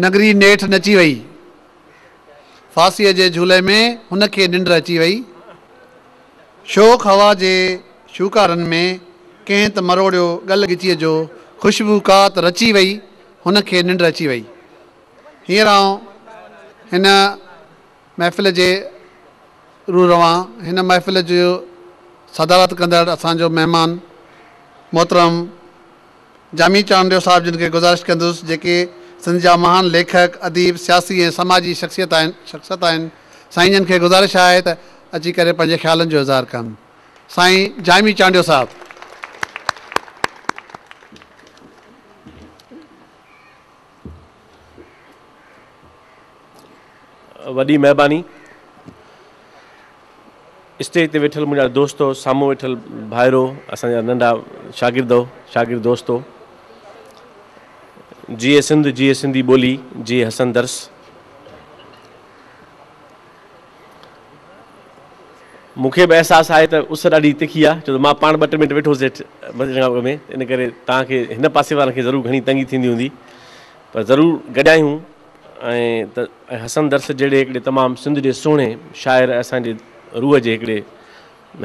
نگري نيٺ نچي وئي. ڦاسيء جي جهولي ۾ هن کي ننڊ اچي وئي. شوخ هوا جي شوڪارن ۾ ڪنهن ته مروڙيو ڳل ڳچيء جو خوشبو ڪا ته رچي وئي، هن کي ننڊ اچي وئي. هينئر آئون هن محفل جي روح روان، هن محفل جي صدارت ڪندڙ اسان جو مهمان محترم، جامي چانڊيو صاحب جن کي گذارش ڪندس جيڪي سنڌ جا مهان ليکڪ، اديب، سياسي ۽ سماجي شخصيت آهن شخصيت آهن سائين جن کي گذارش آهي ته اچي ڪري پنهنجي خيالن جو اظهار ڪن سائين جامي چانڊيو صاحب. وڏي مھرباني اسٽيج تي ويٺل منهنجا دوستو سامهون ويٺل ڀائرو اسان جا ننڍا شاگردو شاگرد دوستو جيئي سنڌ جيئي سنڌي ٻولي جيئي حسن درس مون کي به احساس آهي ته اس ڏاڍي تکي آهي، ڇو ته مان پاڻ ٻه ٽي منٽ ويٺو هوس هيٺ ۾، ان ڪري توهان کي هن پاسي وارن کي ضرور گهڻي تنگي ٿيندي هوندي، پر ضرور گڏايون ته حسن درس جهڙي هڪڙي تمام سنڌ جي سهڻي شاعر ۽ اسان جي روح جي هڪڙي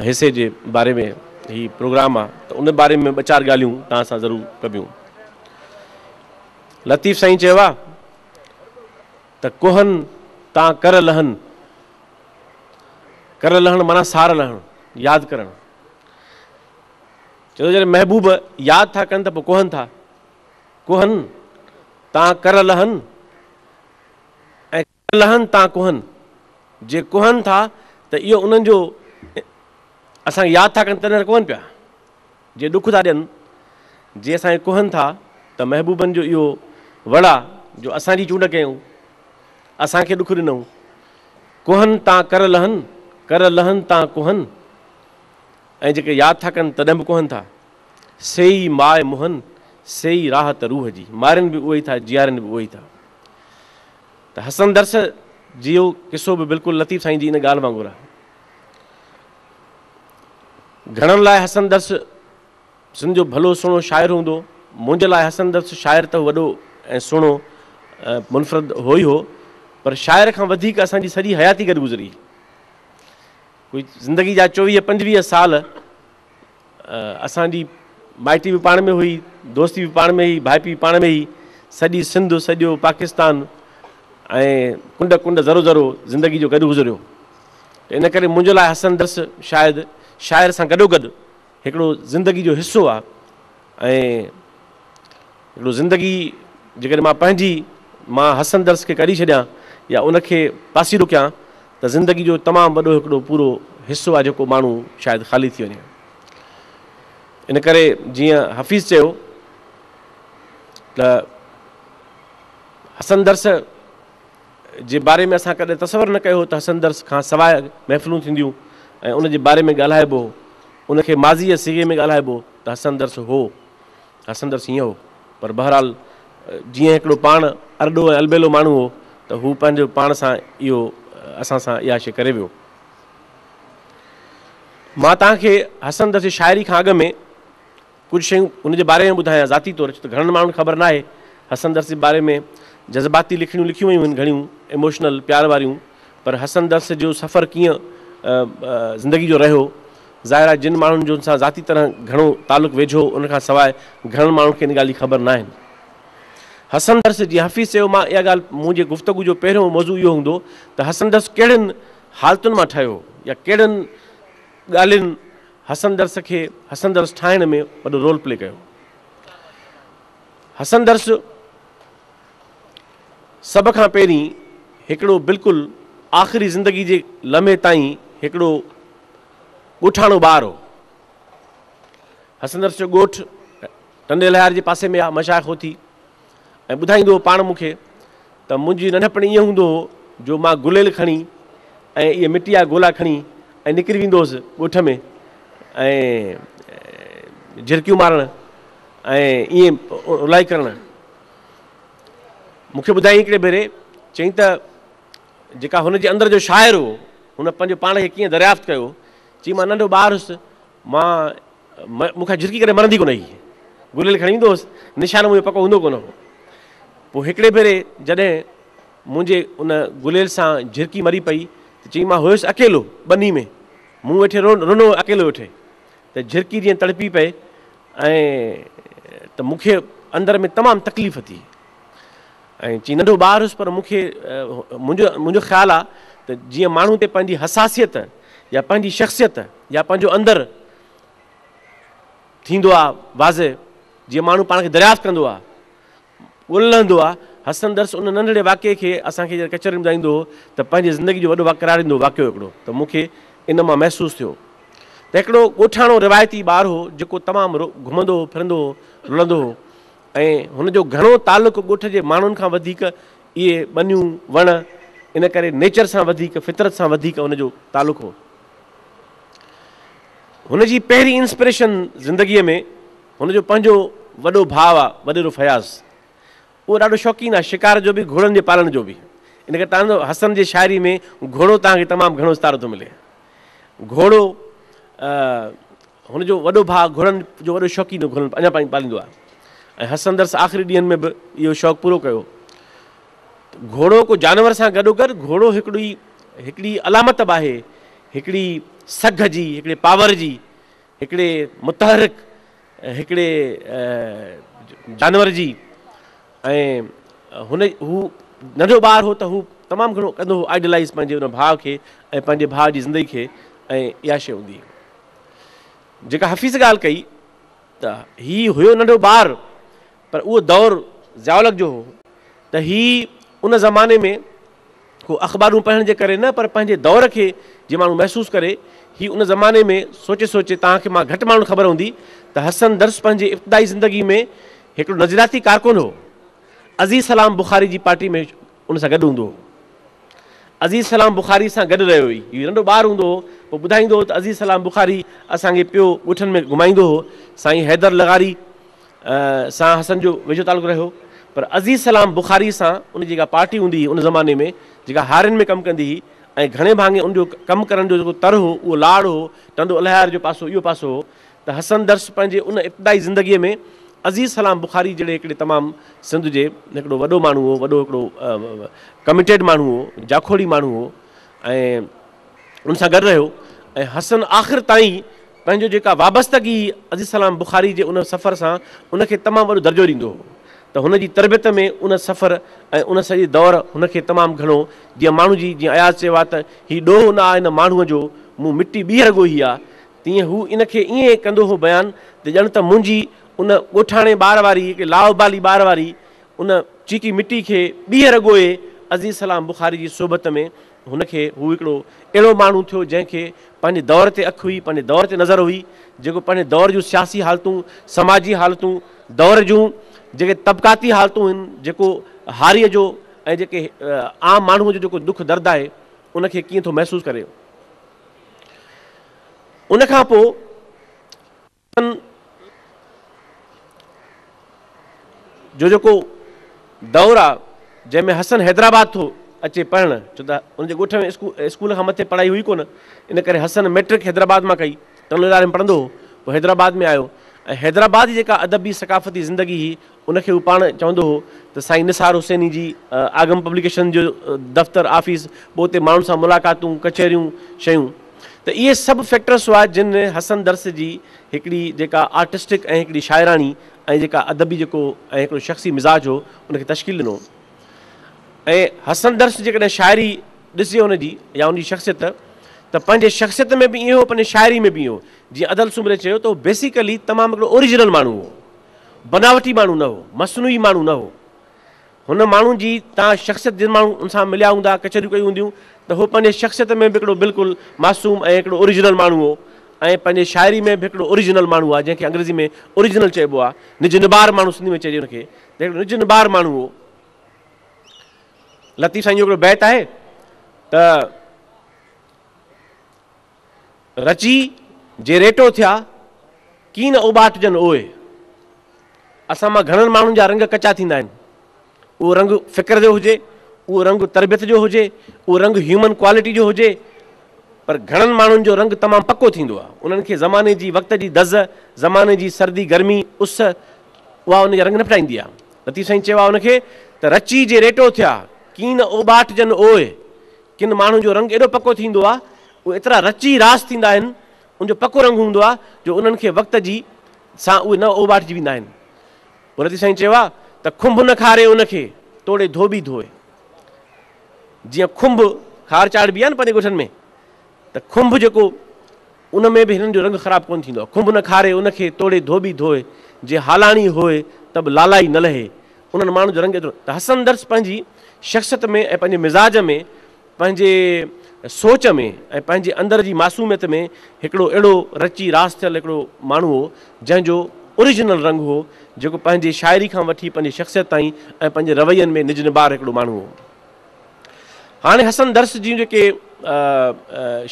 حصي جي باري ۾ هي پروگرام آهي ته ان باري ۾ ٻه چار ڳالهيون توهان سان ضرور ڪبيون. لطيف سائين چيو آهي. ته ڪوهن تان ڪر لهن، ڪر لهڻ معنيٰ سار لهڻ، ياد ڪرڻ. چوندو جڏهن محبوب ياد ٿا ڪن ته پوء ڪوهن ٿا، ڪوهن تان ڪر لهن ۽ ڪر لهن تان ڪوهن، جي ڪوهن ٿا ته اهو انهن جو اسان کي ياد ٿا ڪن تڏهن ته ڪوهن پيا. جي ڏک ٿا ڏين، جي اسان کي ڪوهن ٿا ته محبوبن جو اهو وڙ آ جو اسان جي چونڊ ڪيئون، اسان کي ڏک ڏنئون. ڪوهن تان ڪر لهن، ڪر لهن تان ڪوهن، ۽ جيڪي ياد ٿا ڪن تڏهن به ڪوهن ٿا. سي ئي ماء موهن، سي ئي راحت روح جي. مارين به اهي ئي ٿا، جيارين به اهي ئي ٿا. ته حسن درس جيو قصو به بلڪل لطيف سائين جي ان ڳالهه وانگر آ. گهڻن لاء حسن درس سنڌ جو ڀلو سهڻو شاعر هوندو منهنجي لاء حسن درس شاعر ته وڏو ۽ سهڻو منفرد هو ئي هو پر شاعر کان وڌيڪ اسان جي سڄي حياتي گڏ گذري ڪوئي زندگي جا چوويهه پنجويهه سال اسان جي مائٽي به پاڻ ۾ هئي، دوستي به پاڻ ۾ هئي، ڀائپي به پاڻ ۾ هئي. سڄي سنڌ، سڄو پاڪستان ۽ ڪنڊ ڪنڊ، ذرو ذرو زندگي جو گڏ گذريو. ته ان ڪري منهنجي لاء حسن درس شايد شاعر سان گڏوگڏ هڪڙو زندگي جو حصو آ. ۽ هڪڙو زندگي جيڪڏهن مان پنهنجي مان حسن درس کي ڪري ڇڏيان يا ان کي پاسيرو ڪيان ته زندگي جو تمام وڏو هڪڙو پورو حصو آهي جيڪو ماڻهو شايد خالي ٿي وڃي. ان ڪري جيئن حفيظ چيو ته حسن درس جي باري ۾ اسان ڪڏهن تصور نه ڪيو هو ته حسن درس کان سواء محفلون ٿينديون ۽ ان جي باري ۾ ڳالهائبو هو. ان کي ماضيء جي صيغي ۾ ڳالهائبو ته حسن درس هو، حسن درس هيئن هو، پر بهرحال جيئن هڪڙو پاڻ ارڏو ۽ البيلو ماڻهو هو ته هو پنهنجو پاڻ سان اهو اسان سان اها شيء ڪري ويو. مان توهان کي حسن درس جي شاعري کان اڳ ۾ ڪجهه شيون هن جي باري ۾ ٻڌايان ذاتي طور ڇو ته گهڻن ماڻهن کي خبر ناهي حسن درس جي باري ۾ جذباتي لکڻيون لکيون ويون آهن گهڻيون ايموشنل پيار واريون پر حسن درس جو سفر ڪيئن زندگي جو رهيو ظاهر آهي جن ماڻهن جو هن سان ذاتي طرح گهڻو تعلق ويجهو هو ان کان سواء گهڻن ماڻهن کي ان ڳالهه جي خبر ناهن حسن درس جي حفيظ چيو مان اها ڳالهه منهنجي گفتگو جو پهريون موضوع اهو هوندو ته حسن درس ڪهڙين حالتن مان ٺهيو يا ڪهڙين ڳالهين حسن درس کي حسن درس ٺاهڻ ۾ وڏو رول پلي ڪيو. حسن درس سڀ کان پهرين هڪڙو بلڪل آخري زندگي جي لمحي تائين هڪڙو ڳوٺاڻو ٻار هو. حسن درس جو ڳوٺ ٽنڊي لهار جي پاسي ۾ آ، مشائخ هوٿي. ۽ ٻڌائيندو هو پاڻ مون کي ته منهنجي ننڍپڻ ائين هوندو هو جو مان گليل کڻي ۽ اهي مٽي جا گولا کڻي ۽ نڪري ويندو هوس ڳوٺ ۾ ۽ جهرڪيون مارڻ ۽ ائين رولائي ڪرڻ مون کي ٻڌائي هڪڙي ڀيري چئي ته جيڪا هن جي اندر جو شاعر هو هن پنهنجو پاڻ کي ڪيئن دريافت ڪيو چي مان ننڍو ٻار هوس مان مون کان جھرڪي ڪڏھن مرندي ڪونه ھئي. گليل کڻي ويندو ھوس. نشان منھنجو پڪو ھوندو ڪونه ھو. پوء ھڪڙي ڀيري جڏھن منھنجي ان گليل سان جھرڪي مري پئي ته چيائين مان ھيس اڪيلو ٻني ۾. مون ويٺي رنو اڪيلو ويٺي ته جھرڪي جيئن تڙپي پئي ۽ ته مون کي اندر ۾ تمام تڪليف ٿي. ۽ چي ننڍو ٻار هيس پر مون کي منهنجو منهنجو خيال آ ته جيئن ماڻهو تي پنهنجي حساسيت يا پنهنجي شخصيت يا پنهنجو اندر ٿيندو آ واضح جيئن ماڻهو پاڻ کي دريافت ڪندو آ ڳولهندو آ حسن درس ان ننڍڙي واقعي کي اسان کي جڏهن ڪچهرين ٻڌائيندو هو ته پنهنجي زندگي جو وڏو وقراريندو واقعو هڪڙو ته مون کي ان مان محسوس ٿيو ته هڪڙو ڳوٺاڻو روايتي ٻار هو جيڪو تمام گهمندو هو ڦرندو هو رلندو هو ۽ هن جو گهڻو تعلق ڳوٺ جي ماڻهن کان وڌيڪ اهي ٻنيون، وڻ، ان ڪري نيچر سان وڌيڪ، فطرت سان وڌيڪ هن جو تعلق هو. هن جي پهرين انسپريشن زندگيء ۾ هن جو پنهنجو وڏو ڀاء آ وڏيرو فياض. اهو ڏاڍو شوقين آ شڪار جو به گهوڙن جي پالڻ جو به. ان ڪري تان جو حسن جي شاعري ۾ گهوڙو توهان کي تمام گهڻو استعارو ٿو ملي. گهوڙو هن جو وڏو ڀاء گهوڙن جو وڏو شوقين هو، گهوڙن اڃا تائين پاليندو آهي ۽ هسندرس آخري ڏينهن ۾ به اهو شوق پورو ڪيو. گهوڙو ڪو جانور سان گڏوگڏ گهوڙو هڪڙي هڪڙي علامت به آهي، هڪڙي سگهه جي، هڪڙي پاور جي، هڪڙي متحرڪ هڪڙي جانور جي ۽ هن هو ننڍو ٻار هو ته هو تمام گهڻو ڪندو هو آئيڊلائيز پنهنجي ان ڀاء کي ۽ پنهنجي ڀاء جي زندگي کي ۽ اها شيء هوندي هئي. جيڪا حفيظ ڳالهه ڪئي ته هي هيو ننڍو ٻار پر اهو دور ضياء الحق جو هو ته هي ان زماني ۾ هو اخبارون پڙهڻ جي ڪري نه پر پنهنجي دور کي جي ماڻهو محسوس ڪري هي ان زماني ۾ سوچي سوچي توهان کي مان گهٽ ماڻهن خبر هوندي ته حسن درس پنهنجي ابتدائي زندگي ۾ هڪڙو نظرياتي ڪارڪن هو عزيز سلام بخاري جي پارٽي ۾ ان سان گڏ هوندو هو. عزيز سلام بخاري سان گڏ رهيو هي. هي ننڍو ٻار هوندو هو، پوء ٻڌائيندو هو ته عزيز سلام بخاري اسان کي پيو ڳوٺن ۾ گهمائيندو هو. سائين حيدر لغاري سان حسن جو ويجهو تعلق رهيو. پر عزيز سلام بخاري سان ان جي جيڪا پارٽي هوندي هي ان زماني ۾ جيڪا هارين ۾ ڪم ڪندي هي ۽ گهڻي ڀاڱي ان جو ڪم ڪرڻ جو جيڪو تر هو اهو لاڙ هو، ٽنڊو الهيار جو پاسو اهو پاسو هو ته حسن درس پنهنجي ان ابتدائي زندگيء ۾ عزيز سلام بخاري جهڙي هڪڙي تمام سنڌ جي هڪڙو وڏو ماڻهو هو، وڏو هڪڙو ڪميٽيڊ ماڻهو هو، جاکوڙي ماڻهو هو ۽ ان سان گڏ رهيو ۽ حسن آخر تائين پنهنجو جيڪا وابستگي عزيز سلام بخاري جي ان سفر سان ان کي تمام وڏو درجو ڏيندو هو ته هن جي تربيت ۾ ان سفر ۽ ان سڄي دور هن کي تمام گهڻو جيئن ماڻهو جي جيئن اياز چيو آهي ته هي ڏوهه نه آ هن ماڻهوء جو مون مٽي ٻيهر ڳوهي آ تيئن هو ان کي ائين ڪندو هو بيان ته ڄڻ ته منهنجي ان ڳوٺاڻي ٻار واري هڪ لاابالي ٻار واري ان چيٽي مٽي کي ٻيهر ڳوهي عزيز سلام بخاري جي صحبت ۾ هن کي هو هڪڙو اهڙو ماڻهو ٿيو جنهن کي پنهنجي دور تي اک هئي پنهنجي دور تي نظر هئي جيڪو پنهنجي دور جون سياسي حالتون سماجي حالتون دور جون جيڪي طبقاتي حالتون هن جيڪو هاريء جو ۽ جيڪي عام ماڻهوء جو جيڪو دک درد آهي ان کي ڪيئن ٿو محسوس ڪري. ان کان پوء اسان جو جيڪو دور آ جنهن ۾ حسن حيدرآباد ٿو اچي پڙهڻ ڇو ته ان جي ڳوٺ ۾ اسڪول کان مٿي پڙهائي هئي ڪونه ان ڪري حسن ميٽرڪ حيدرآباد مان ڪئي ٽن اداري ۾ پڙهندو هو پوء حيدرآباد ۾ آيو ۽ حيدرآباد جي جيڪا ادبي ثقافتي زندگي هئي ان کي هو پاڻ چوندو هو ته سائين نثار حسيني جي آگم پبليڪيشن جو دفتر، آفيس، پوء اتي ماڻهن سان ملاقاتون، ڪچهريون، شيون ته اهي سڀ فيڪٽرس هئا جن حسن درس جي هڪڙي جيڪا آرٽسٽڪ ۽ هڪڙي شاعراڻي ۽ جيڪا ادبي جيڪو ۽ هڪڙو شخصي مزاج هو ان کي تشڪيل ڏنو ۽ حسن درس جيڪڏهن شاعري ڏسجي ان جي يا ان جي شخصيت ته پنهنجي شخصيت ۾ به ائين هو پنهنجي شاعري ۾ به ائين هو جيئن ادل سومري چيو ته هو بيسيڪلي تمام هڪڙو اوريجنل ماڻهو هو بناوٽي ماڻهو نه هو، مصنوعي ماڻهو نه هو. هن ماڻهو جي توهان شخصيت جن ماڻهن ان سان مليا هوندا، ڪچهريون ڪيون هونديون ته هو پنهنجي شخصيت ۾ به هڪڙو بلڪل معصوم ۽ هڪڙو اوريجنل ماڻهو هو ۽ پنهنجي شاعري ۾ به هڪڙو اوريجنل ماڻهو آهي جنهن کي انگريزي ۾ Original چئبو آهي، نج نبار ماڻهو سنڌي ۾ چئجي ان کي ته هڪڙو نج نبار ماڻهو هو. لطيف سائين جو هڪڙو بيت آهي ته. رچي جي ريٽو ٿيا، ڪي نه اوٻاٽجن اوء. اسان مان گهڻن ماڻهن جا رنگ ڪچا ٿيندا آهن. اهو رنگ فڪر جو هجي، اهو رنگ تربيت جو هجي، اهو رنگ هيومن ڪوالٽي جو هجي، پر گهڻن ماڻهن جو رنگ تمام پڪو ٿيندو آهي. انهن کي زماني جي وقت جي دز، زماني جي سردي، گرمي، اس، اها ان جا رنگ نه ڦٽائيندي آهي. لطيف سائين چيو آهي ان کي ته رچي جي ريٽو ٿيا، ڪي نه اوٻاٽجن اوء. ڪن ماڻهن جو رنگ ايڏو پڪو ٿيندو آهي، اهي ايترا رچي راس ٿيندا آهن، ان جو پڪو رنگ هوندو آهي جو انهن کي وقت جي سان اهي نه اوٻاٽجي ويندا آهن. ان تي سائين چيو آهي ته کنڀ نه کاري ان کي، توڙي ڌوٻي ڌوئي. جيئن کنڀ کار چاڙهبي آهي نه پنهنجي ڳوٺن ۾ ته کنڀ جيڪو. ان ۾ به هنن جو رنگ خراب ڪونه ٿيندو آهي. کنڀ نه کاري ان کي توڙي ڌوٻي ڌوء، جي هالاڻي هوء ته به لالائي نه لهي. انهن ماڻهن جو رنگ ايترو ته حسن درس پنهنجي شخصيت ۾ ۽ پنهنجي مزاج ۾ پنهنجي سوچ ۾ ۽ پنهنجي اندر جي معصوميت ۾ هڪڙو اهڙو رچي راس ٿيل هڪڙو ماڻهو هو جنهن جو Original رنگ هو جيڪو پنهنجي شاعري کان وٺي پنهنجي شخصيت تائين ۽ پنهنجي روين ۾ نجنبار هڪڙو ماڻهو هو. هاڻي حسن درس جون جيڪي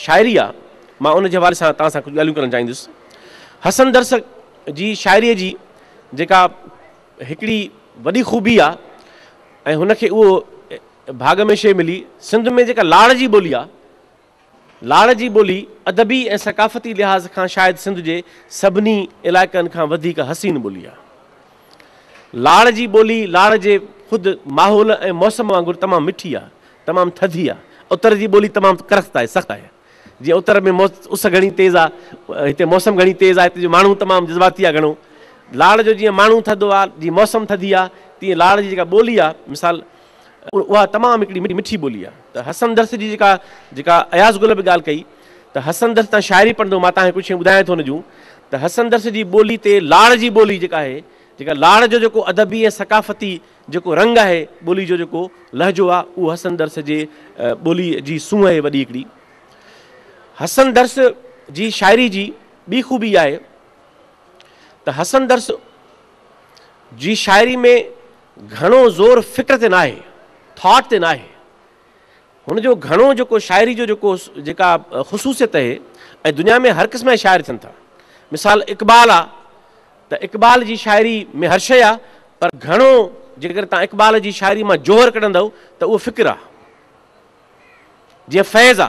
شاعري آ مان ان جي حوالي سان توهان سان ڪجهه ڳالهيون ڪرڻ چاهيندس. حسن درس جي شاعري جي جيڪا هڪڙي وڏي خوبي آ ۽ هن کي اهو ڀاڳ ۾ شيء ملي سنڌ ۾ جيڪا لاڙ جي ٻولي آ، لاڙ جي ٻولي ادبي ۽ ثقافتي لحاظ کان شايد سنڌ جي سڀني علائقن کان وڌيڪ حسين ٻولي آهي. لاڙ جي ٻولي لاڙ جي خود ماحول ۽ موسم وانگر تمام مٺي آهي، تمام ٿڌي آهي. اتر جي ٻولي تمام ڪرخت آهي، سخت آهي. جيئن اتر ۾ اس گهڻي تيز آهي، هتي موسم گهڻي تيز آهي، هتي جو ماڻهو تمام جذباتي آهي گهڻو. لاڙ جو جيئن ماڻهو ٿڌو آهي، جيئن موسم ٿڌي آهي، تيئن لاڙ جي جيڪا ٻولي آهي مثال، اها تمام هڪڙي مٺي ٻولي آ ته حسن درس جي جيڪا جيڪا اياز گل به ڳالهه ڪئي ته حسن درس تان شاعري پڙهندو مان تهانکي ڪجهه شيون ٻڌايان ٿو ان جون ته حسن درس جي ٻولي تي لاڙ جي ٻولي جيڪا آهي جيڪا لاڙ جو جيڪو ادبي ۽ ثقافتي جيڪو رنگ آهي ٻولي جو جيڪو لهجو آ اهو حسن درس جي ٻولي جي سونهن آهي وڏي هڪڙي حسن درس جي شاعري جي ٻي خوبي آهي ته حسن درس جي شاعري ۾ گهڻو زور فڪر تي ناهي، Thought، تي ناهي. هن جو گهڻو جيڪو شاعري جو جيڪو جيڪا خصوصيت اهي ۽ دنيا ۾ هر قسم جا شاعر ٿين ٿا. مثال اقبال آ ته اقبال جي شاعري ۾ هر شيء آ پر گهڻو جيڪڏهن توهان اقبال جي شاعري مان جوهر ڪڍندؤ ته اهو فڪر آ. جيئن فيض آ.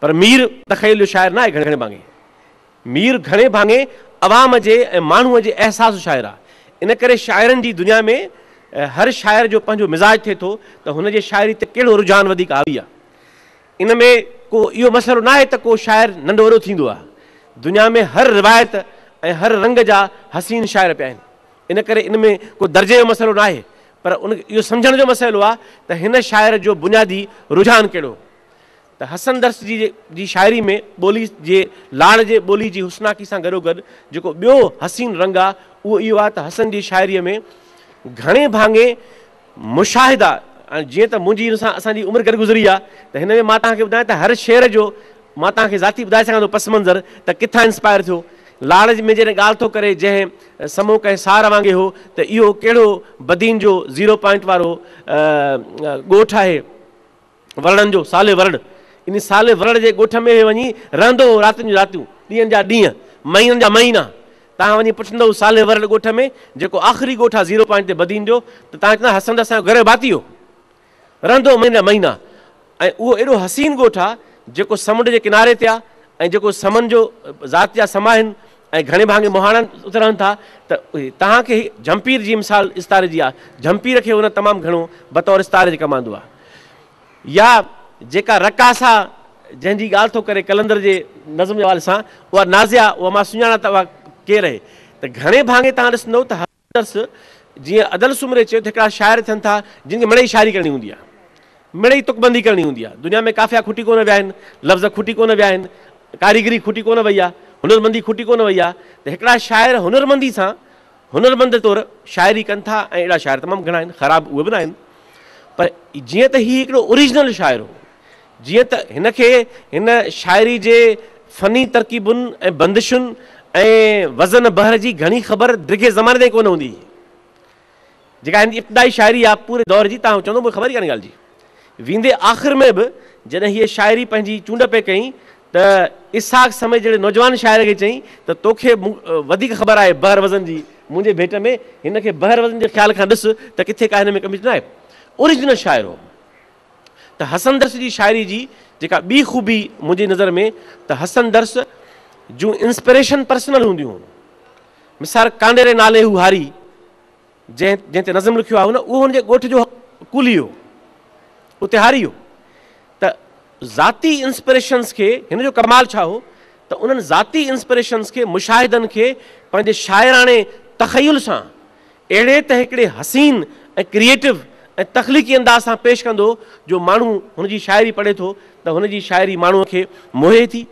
پر مير تخيل جو شاعر نه آهي گهڻي ڀاڱي مير گهڻي ڀاڱي عوام جي ۽ ماڻهوء جي احساس جو شاعر آهي ان ڪري شاعرن جي دنيا ۾ هر شاعر جو پنهنجو مزاج ٿئي ٿو ته هن جي شاعري تي ڪهڙو رجحان وڌيڪ حاوي آهي ان ۾ ڪو اهو مسئلو نه آهي ته ڪو شاعر ننڍو وڏو ٿيندو آهي دنيا ۾ هر روايت ۽ هر رنگ جا حسين شاعر پيا آهن ان ڪري ان ۾ ڪو درجي جو مسئلو نه آهي پر ان کي اهو سمجهڻ جو مسئلو آهي ته هن شاعر جو بنيادي رجحان ڪهڙو هو ته حسن درس جي جي شاعري ۾ ٻولي جي لاڙ جي ٻولي جي حسناڪي سان گڏوگڏ جيڪو ٻيو حسين رنگ آهي اهو اهو آهي ته حسن جي شاعريء ۾ گهڻي ڀاڱي مشاهدا جيئن ته منهنجي ان سان اسان جي عمر گڏ گذري آهي ته هن ۾ مان توهان کي ٻڌايان ته هر شعر جو مان توهان کي ذاتي ٻڌائي سگهان ٿو پس منظر ته ڪٿان انسپائر ٿيو. لاڙج ۾ جڏهن ڳالهه ٿو ڪري جنهن سمو ڪنهن سار وانگي هو ته اهو ڪهڙو بدين جو زيرو پوائنٽ وارو ڳوٺ آهي ورڙن جو سالي ورڙ ان سالي ورڙ جي ڳوٺ ۾ اهي وڃي رهندو هو راتين جون راتيون ڏينهن جا ڏينهن مهينن جا مهينا توهان وڃي پڇندو سالي ورڙ ڳوٺ ۾ جيڪو آخري ڳوٺ آهي زيرو پوائنٽ تي بدين جو ته توهان چوندا حسن ته اسان جو گهر جو ڀاتي هو. رهندو مهينا مهينا ۽ اهو ايڏو حسين ڳوٺ آ جيڪو سمنڊ جي ڪناري تي آ ۽ جيڪو سمن جو ذات جا سما آهن ۽ گهڻي ڀاڱي مهاڻا اتي رهن ٿا ته توهان کي هي جهمپير جي مثال استاري جي آ جهمپير کي هن تمام گهڻو بطور استاري جي ڪم آندو آ يا جيڪا رقاصا جنهن جي ڳالهه ٿو ڪري قلندر جي نظم جي حوالي سان اها نازيا اها مان سڃاڻا ته اها ڪير اهي ته گهڻي ڀاڱي توهان ڏسندو ته درس، جيئن ادل سومري چيو ته هڪڙا شاعر ٿين ٿا جن کي مڙئي شاعري ڪرڻي هوندي آهي، مڙئي تڪبندي ڪرڻي هوندي آهي، دنيا ۾ قافيا کٽي ڪونه ويا آهن، لفظ کٽي ڪونه ويا آهن، ڪاريگري کٽي ڪونه وئي آهي، هنرمندي کٽي ڪونه وئي آهي ته هڪڙا شاعر هنرمندي سان هنرمند طور شاعري ڪن ٿا ۽ اهڙا شاعر تمام گهڻا آهن، خراب اهي به ناهن پر جيئن ته هي هڪڙو اوريجنل شاعر هو. جيئن ته هن کي هن شاعري جي فني ترڪيبن ۽ بندشن ۽ وزن بحر جي گهڻي خبر ڊگهي زماني تائين ڪونه هوندي هئي. جيڪا هن جي ابتدائي شاعري آ پوري دور جي تان چوندو مون کي خبر ئي ڪانهي ڳالهه جي. ويندي آخر ۾ به جڏهن هيء شاعري پنهنجي چونڊ پئي ڪيائين ته اسحاق سمي جهڙي نوجوان شاعر کي چيائين ته تو کي وڌيڪ خبر آهي بحر وزن جي منهنجي ڀيٽ ۾ هن کي بحر وزن جي خيال کان ڏس ته ڪٿي ڪا هن ۾ ڪميٽ نه آهي. اوريجنل شاعر هو. ته حسن درس جي شاعري جي جيڪا ٻي خوبي منهنجي نظر ۾ ته حسن درس جون انسپريشن پرسنل هونديون هون مثال ڪانڊيري نالي هو هاري جنهن جنهن تي نظم لکيو آهي نه اهو هن جي ڳوٺ جو ڪولي هو اتي هاري هو ته ذاتي انسپريشنس کي هن جو ڪمال ڇا هو ته انهن ذاتي انسپريشنس کي مشاهدن کي پنهنجي شاعراڻي تخيل سان اهڙي ته هڪڙي حسين ۽ ڪريئيٽو ۽ تخليقي انداز سان پيش ڪندو جو ماڻهو هن جي شاعري پڙهي ٿو ته هن جي شاعري ماڻهوء کي موهي ٿي،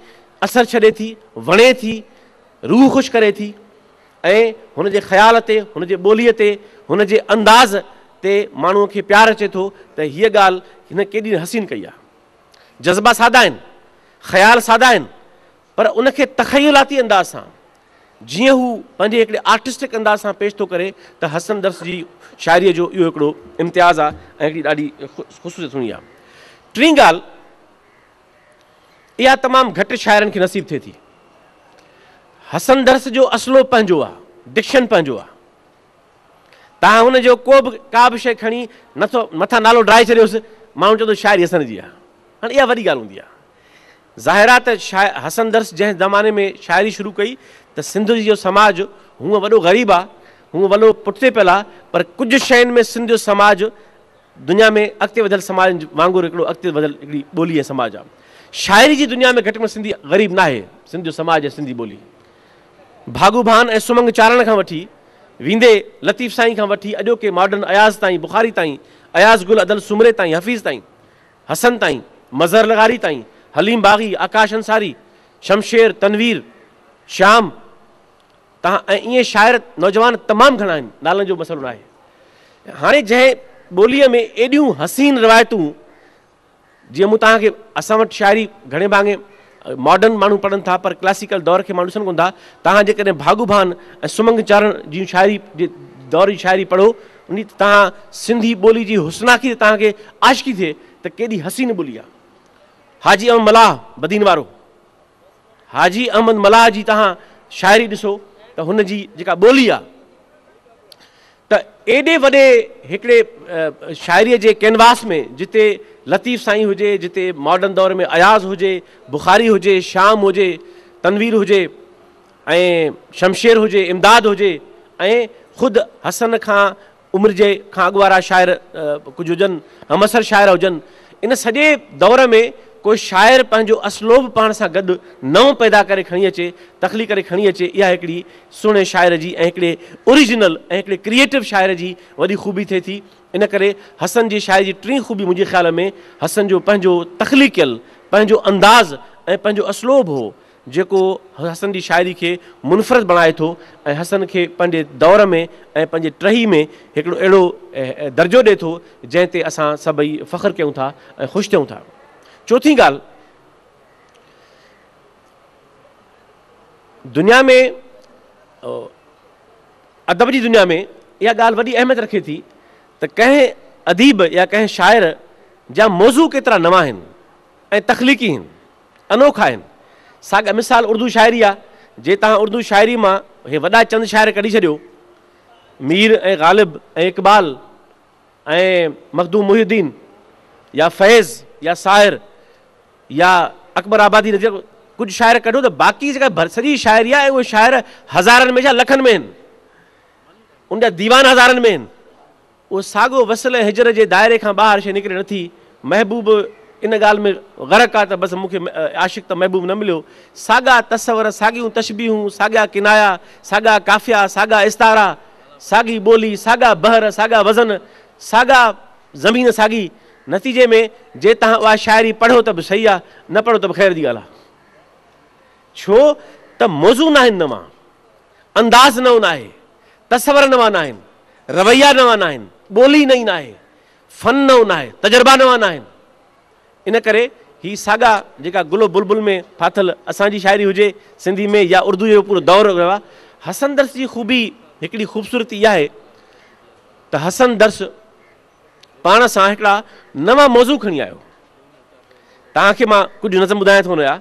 اثر ڇڏي ٿي، وڻي ٿي، روح خوش ڪري ٿي ۽ هن جي خيال تي، هن جي ٻوليء تي، هن جي انداز تي ماڻهوء کي پيار اچي ٿو ته هيء ڳالهه هن ڪيڏي نه حسين ڪئي آهي. جذبا سادا آهن، خيال سادا آهن، پر ان کي تخيلاتي انداز سان جيئن هو پنهنجي هڪڙي آرٽسٽڪ انداز سان پيش ٿو ڪري ته حسن درس جي شاعريء جو اهو هڪڙو امتياز آهي ۽ هڪڙي ڏاڍي خصوصيت هوندي آهي. ٽين ڳالهه اها تمام گهٽ شاعرن کي نصيب ٿئي ٿي. حسن درس جو اسلوب پنهنجو آهي، ڊڪشن پنهنجو آهي. تان هن جو ڪو به ڪا به شيء کڻي نه ٿو مٿان نالو ڊاهي ڇڏيوس، ماڻهو چوندو شاعري حسن جي آهي. هاڻي اها وڏي ڳالهه هوندي آهي. ظاهر آهي ته شاعر حسن درس جنهن زماني ۾ شاعري شروع ڪئي ته سنڌ جي جو سماج هونء وڏو غريب آ، هونء ولو پٺتي پيل آ، پر ڪجهه شين ۾ سنڌ جو سماج دنيا ۾ اڳتي وڌيل سماجن وانگر هڪڙو اڳتي وڌيل هڪڙي ٻولي ۽ سماج آ. شاعري جي دنيا ۾ گهٽ ۾ سنڌي غريب ناهي. سنڌ جو سماج ۽ سنڌي ٻولي ڀاڳو ڀان ۽ سمنگ چارڻ کان وٺي ويندي لطيف سائين کان وٺي اڄوڪي ماڊرن اياز تائين، بخاري تائين، اياز گل ادل سومري تائين، حفيظ تائين، حسن تائين، مظهر لغاري تائين، حليم باغي، آڪاش انصاري، شمشير، تنوير، شيام تان ۽ ائين شاعر نوجوان تمام گهڻا آهن، نالن جو مسئلو ناهي. هاڻي جنهن ٻوليء ۾ ايڏيون حسين روايتون جيئن مون توهان کي اسان وٽ شاعري گهڻي ڀاڱي ماڊرن ماڻهو پڙهن ٿا پر ڪلاسيڪل دور کي ماڻهو ڏسن ڪونه ٿا. توهان جيڪڏهن ڀاڳو ڀان ۽ سمنگ چارڻ جيون شاعري جي دور جي شاعري پڙهو انهي تي توهان سنڌي ٻولي جي حسناڪي تي توهان کي عاشقي ٿئي ته ڪيڏي حسين ٻولي آهي. حاجي احمد ملاح بدين وارو حاجي احمد ملاح جي توهان شاعري ڏسو ته هن جي جيڪا ٻولي آهي ته ايڏي وڏي هڪڙي شاعريء جي ڪينواس ۾ جتي لطيف سائين هجي، جتي ماڊرن دور ۾ اياز هجي، بخاري هجي، شيام هجي، تنوير هجي ۽ شمشير هجي، امداد هجي ۽ خود حسن کان عمر جي کان اڳ وارا شاعر ڪجهه هجن، همعصر شاعر هجن، ان سڄي دور ۾ ڪو شاعر پنهنجو اسلوب پاڻ سان گڏ نئون پيدا ڪري کڻي اچي، تخليق ڪري کڻي اچي، اها هڪڙي سهڻي شاعر جي ۽ هڪڙي اوريجنل ۽ هڪڙي ڪريئيٽو شاعر جي وڏي خوبي ٿئي ٿي. ان ڪري حسن جي شاعري جي ٽين خوبي منهنجي خيال ۾ حسن جو پنهنجو تخليقيل پنهنجو انداز ۽ پنهنجو اسلوب هو، جيڪو حسن جي شاعري کي منفرد بڻائي ٿو ۽ حسن کي پنهنجي دور ۾ ۽ پنهنجي ٽهي ۾ هڪڙو اهڙو درجو ڏي ٿو جنهن تي اسان سڀئي فخر ڪيون ٿا ۽ خوش ٿيون ٿا. چوٿين ڳالهه دنيا ۾ ادب جي دنيا ۾ اها ڳالهه وڏي اهميت رکي ٿي ته ڪنهن اديب يا ڪنهن شاعر جا موضوع ڪيترا نوان آهن ۽ تخليقي آهن. انوکا آهن. ساڳئ مثال اردو شاعري آ، جي تهان اردو شاعري مان هي وڏا چند شاعر ڪڍي ڇڏيو، مير ۽ غالب ۽ اقبال ۽ مخدوم محي الدين يا فيض يا ساحر يا اڪبر آبادي نه جيڪو ڪجهه شاعر ڪڍو ته باقي جيڪا سڄي شاعري آ ۽ اهي شاعر هزارن ۾ ڇا لکن ۾ آهن. ان جا ديوان هزارن ۾ آهن. اهو ساڳو وصل هجر جي دائري کان ٻاهر شيء نڪري نٿي. محبوب ان ڳالهه ۾ غرق آ ته بس مون کي عاشق ته محبوب نه مليو. ساڳا تصور، ساڳيون تشبيهون، ساڳيا ڪنايا، ساڳا قافيا، ساڳا استعارا، ساڳي ٻولي، ساڳا بحر، ساڳا وزن، ساڳا زمين ساڳي. نتيجي ۾ جي توهان اها شاعري پڙهو ته به صحيح آ، نه پڙهو ته به خير جي ڳالهه آ. ڇو ته موضوع ناهن نوان، انداز نئون ناهي، تصور نوان ناهن، رويا نوان ناهن، ٻولي نئين ناهي، فن نئون ناهي، تجربا نوان ناهن. ان ڪري هي ساڳا جيڪا گل و بلبل ۾ ڦاٿل اسان جي شاعري هجي سنڌي ۾ يا اردوء جو پورو دور رهيو آهي. حسن درس جي خوبي هڪڙي خوبصورتي اها آهي ته حسن درس پاڻ سان هڪڙا نوان موضوع کڻي آيو توهان کي مان ڪجهه نظم ٻڌايان ٿو هن جا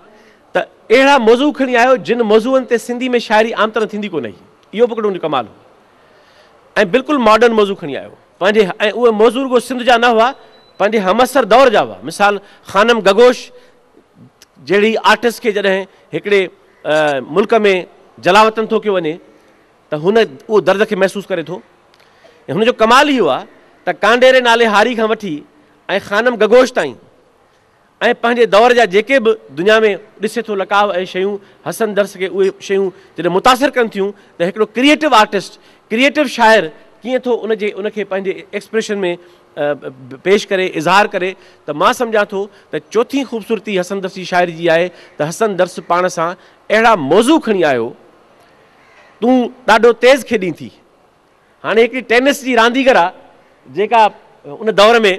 ته اهڙا موضوع کڻي آيو جن موضوعن تي سنڌي ۾ شاعري عام طرح ٿيندي ڪونه هئي اهو به هڪڙو ان جو ڪمال هو ۽ بلڪل ماڊرن موضوع کڻي آيو پنهنجي ۽ اهي موضوع رڳو سنڌ جا نه هئا پنهنجي همعصر دور جا هئا مثال خانم گگوش جهڙي آرٽسٽ کي جڏهن هڪڙي ملڪ ۾ جلاوطن ٿو ڪيو وڃي ته هن اهو درد کي محسوس ڪري ٿو ۽ هن جو ڪمال اهو آهي ته ڪانڊيري نالي هاري کان وٺي ۽ خانم گگوش تائين ۽ پنهنجي دور جا جيڪي به دنيا ۾ ڏسي ٿو لقاء اهي شيون حسن درس کي اهي شيون جڏهن متاثر ڪن ٿيون ته هڪڙو ڪريئيٽو آرٽسٽ ڪريئيٽو شاعر ڪيئن ٿو ان جي ان کي پنهنجي ايڪسپريشن ۾ پيش ڪري اظهار ڪري ته مان سمجهان ٿو ته چوٿين خوبصورتي حسن درس جي شاعري جي آهي ته حسن درس پاڻ سان اهڙا موضوع کڻي آيو تون ڏاڍو تيز کيڏين ٿي. هاڻي هڪڙي ٽينس جي رانديگر آ جيڪا ان دور ۾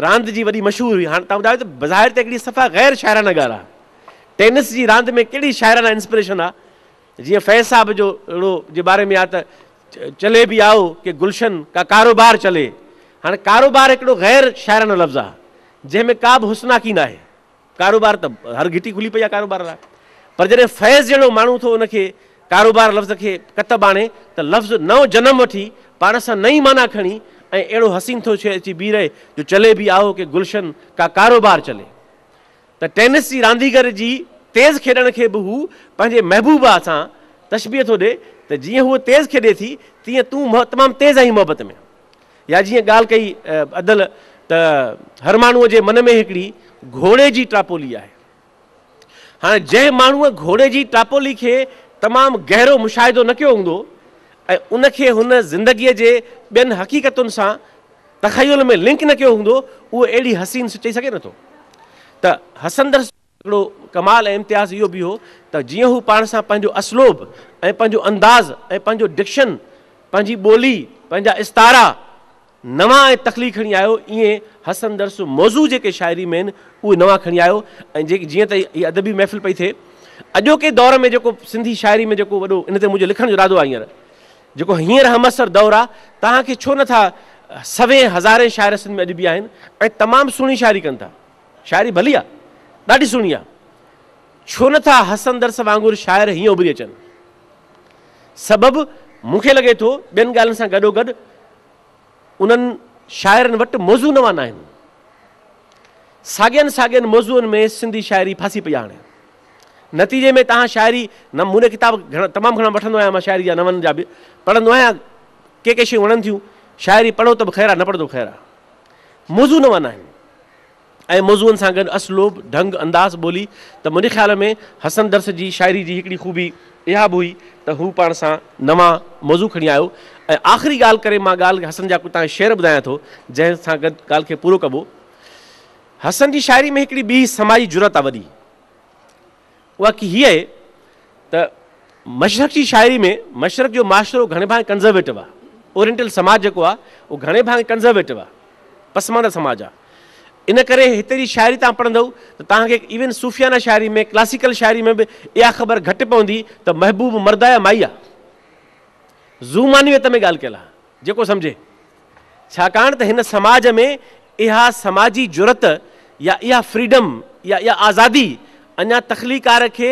راند جي وڏي مشهور هئي. هاڻي توهان ٻڌايو ته بظاهر ته هڪڙي صفا غير شاعرانه ڳالهه آ. ٽينس جي راند ۾ ڪهڙي شاعرانه انسپريشن آ. جيئن فيض صاحب جو اهڙو جي باري ۾ آ ته چلي بي آئو ڪي گلشن ڪا ڪاروبار چلي. هاڻي ڪاروبار هڪڙو غير شاعرانه لفظ آ جنهن ۾ ڪابه حسناڪي ناهي. ڪاروبار ته هر گهٽي کلي پئي آهي ڪاروبار لاء پر جڏهن فيض جهڙو ماڻهو ٿو ان کي ڪاروبار لفظ کي ڪتب آڻي ته لفظ نئون جنم وٺي پاڻ سان نئين معنيٰ کڻي ۽ اهڙو حسين ٿو شيء اچي بيهي رهي جو چلي بي آهو ڪي گلشن ڪا ڪاروبار چلي ته ٽينس جي رانديگر جي تيز کيڏڻ کي به هو پنهنجي محبوبه سان تشبيهه ٿو ڏي ته جيئن هوء تيز کيڏي ٿي تيئن تون تمام تيز آهين محبت ۾. يا جيئن ڳالهه ڪئي ادل ته هر ماڻهوء جي من ۾ هڪڙي گهوڙي جي ٽاپولي آهي. هاڻي جنهن ماڻهوء گهوڙي جي ٽاپولي کي تمام گهرو مشاهدو نه ڪيو هوندو ۽ ان کي هن زندگيء جي ٻين حقيقتن سان تخيل ۾ لنڪ نه ڪيو هوندو اهو اهڙي حسين سچئي سگهي نٿو ته حسندر هڪڙو ڪمال ۽ امتياز اهو به هو ته جيئن هو پاڻ سان پنهنجو اسلوب ۽ پنهنجو انداز ۽ پنهنجو ڊڪشن، پنهنجي ٻولي، پنهنجا استعارا نوان ۽ تخليقي کڻي آيو، ايئن حسن درس موضوع جيڪي شاعري ۾ آهن اهي نوان کڻي آيو ۽ جيئن ته هي ادبي محفل پئي ٿئي اڄوڪي دور ۾ جيڪو سنڌي شاعري ۾ جيڪو وڏو ان تي منهنجو لکڻ جو ارادو آهي هينئر جيڪو هينئر همعصر دور آهي توهان کي ڇو نه ٿا سوين هزارين شاعر سنڌ ۾ اڄ به آهن ۽ تمام سهڻي شاعري ڪن ٿا. شاعري ڀلي آ ڏاڍي سهڻي آ ڇو نه ٿا حسندرس وانگر شاعر هيئن اڀري اچن سبب مون کي لڳي ٿو ٻين ڳالهين سان گڏو گڏ انهن شاعرن وٽ موضوع نوان آهن ساڳين ساڳين موضوعن ۾ سنڌي شاعري ڦاسي پئي آهي نتيجي ۾ تهان شاعري نه مون ڪتاب تمام گهڻا وٺندو آهيان مان شاعري جا نون جا به پڙهندو آهيان ڪي ڪي شيون وڻن ٿيون شاعري پڙهو ته به خير آ نه پڙهو ته خير آ موضوع نوان آهن ۽ موضوعن سان گڏ اسلوب، ڍنگ، انداز ٻولي ته منهنجي خيال ۾ حسن درس جي شاعري جي هڪڙي خوبي اها به هئي ته هو پاڻ سان نوان موضوع کڻي آيو ۽ آخري ڳالهه ڪري مان ڳالهه حسن جا ڪجهه تهان شعر ٻڌايان ٿو جنهن سان گڏ ڳالهه کي پورو ڪبو. حسن جي شاعري ۾ هڪڙي ٻي سماجي جرئت آ وڏي. اها ڪي هي آهي ته مشرق جي شاعري ۾ مشرق جو معاشرو گهڻي ڀاڱي ڪنزرويٽو آهي. اورينٽل سماج جيڪو آهي اهو گهڻي ڀاڱي ڪنزرويٽو آهي، پسمانده سماج آهي. ان ڪري هتي جي شاعري تان پڙهندؤ ته توهان کي ايون صوفيانه شاعري ۾ ڪلاسيڪل شاعري ۾ به اها خبر گهٽ پوندي ته محبوب مرد آهي يا مائي آهي. زو معنويت ۾ ڳالهه ڪيل آهي. جيڪو سمجهي. ڇاڪاڻ ته هن سماج ۾ اها سماجي جرئت يا اها فريڊم يا اها آزادي اڃا تخليقار کي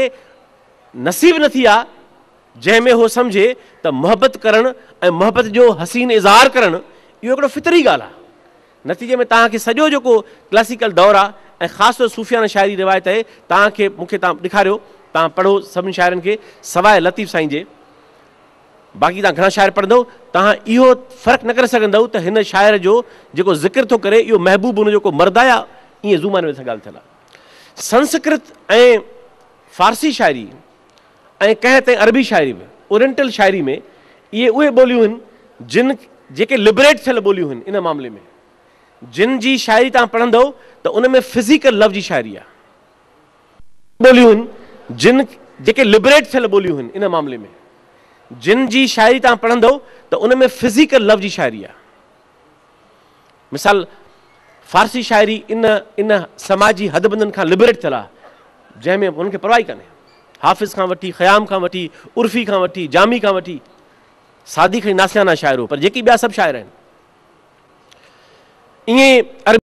نصيب نه ٿي آ جنهن ۾ هو سمجهي ته محبت ڪرڻ ۽ محبت جو حسين اظهار ڪرڻ اهو هڪڙو فطري ڳالهه آ. نتيجي ۾ توهان کي سڄو جيڪو ڪلاسيڪل دور آ ۽ خاص طور صوفيانه شاعري روايت اهي توهان کي مون کي توهان ڏيکاريو توهان پڙهو سڀني شاعرن کي سواء لطيف سائين جي باقي توهان گهڻا شاعر پڙهندؤ، توهان اهو فرق نه ڪري سگهندؤ ته هن شاعر جو جيڪو ذڪر ٿو ڪري، اهو محبوب ان جو ڪو مرد آ يا ائين زو معنيٰ ۾ سا ڳالهه ٿيل آ. سنسڪرت ۽ فارسي شاعري ۽ ڪنهن تائين عربي شاعري به، اورينٽل شاعري ۾، اهي اهي ٻوليون هن، جن جيڪي لبريٽ ٿيل ٻوليون هن، ان معاملي ۾، جن جي شاعري توهان پڙهندؤ ته ان ۾ فزيڪل لو جي شاعري آ. ٻوليون هن جن جيڪي لبريٽ ٿيل ٻوليون هن ان معاملي ۾ جن جي شاعري توهان پڙهندو ته ان ۾ فزيڪل لو جي شاعري آهي مثال فارسي شاعري ان ان سماجي حد بندن کان لبريٽ ٿيل آهي جنهن ۾ انهن کي پرواهي ڪانهي حافظ کان وٺي خيام کان وٺي عرفي کان وٺي جامي کان وٺي سادي کي ناسيانا شاعر هو پر جيڪي ٻيا سڀ شاعر آهن ائين